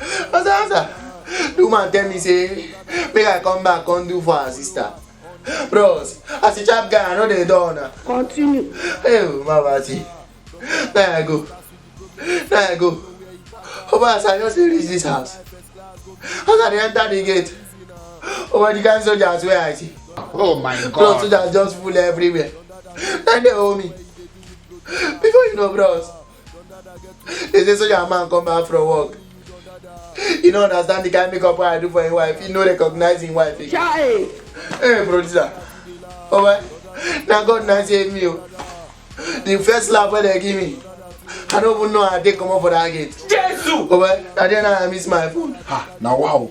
I say after the woman tell me say make I come back come do for her sister. Bros, as a chap guy, I know they don't. na. Continue. Hey, mama see. Now I go. Now I go. Oba as I just reach this house. As I dey enter the gate. Oba the kind soldiers wey I see. Oh my Bros, God. soldiers just full everywhere. Then they hold me. Before you know, bros, they say soldier man come back from work you no understand the kind makeup wey i do for him wife he no recognize him wife again. chai. hey producer oba na god na save me o the first slap wey dem give me i no even know how i take comot for that gate. jesu. oba na there na i miss my phone. ha na wow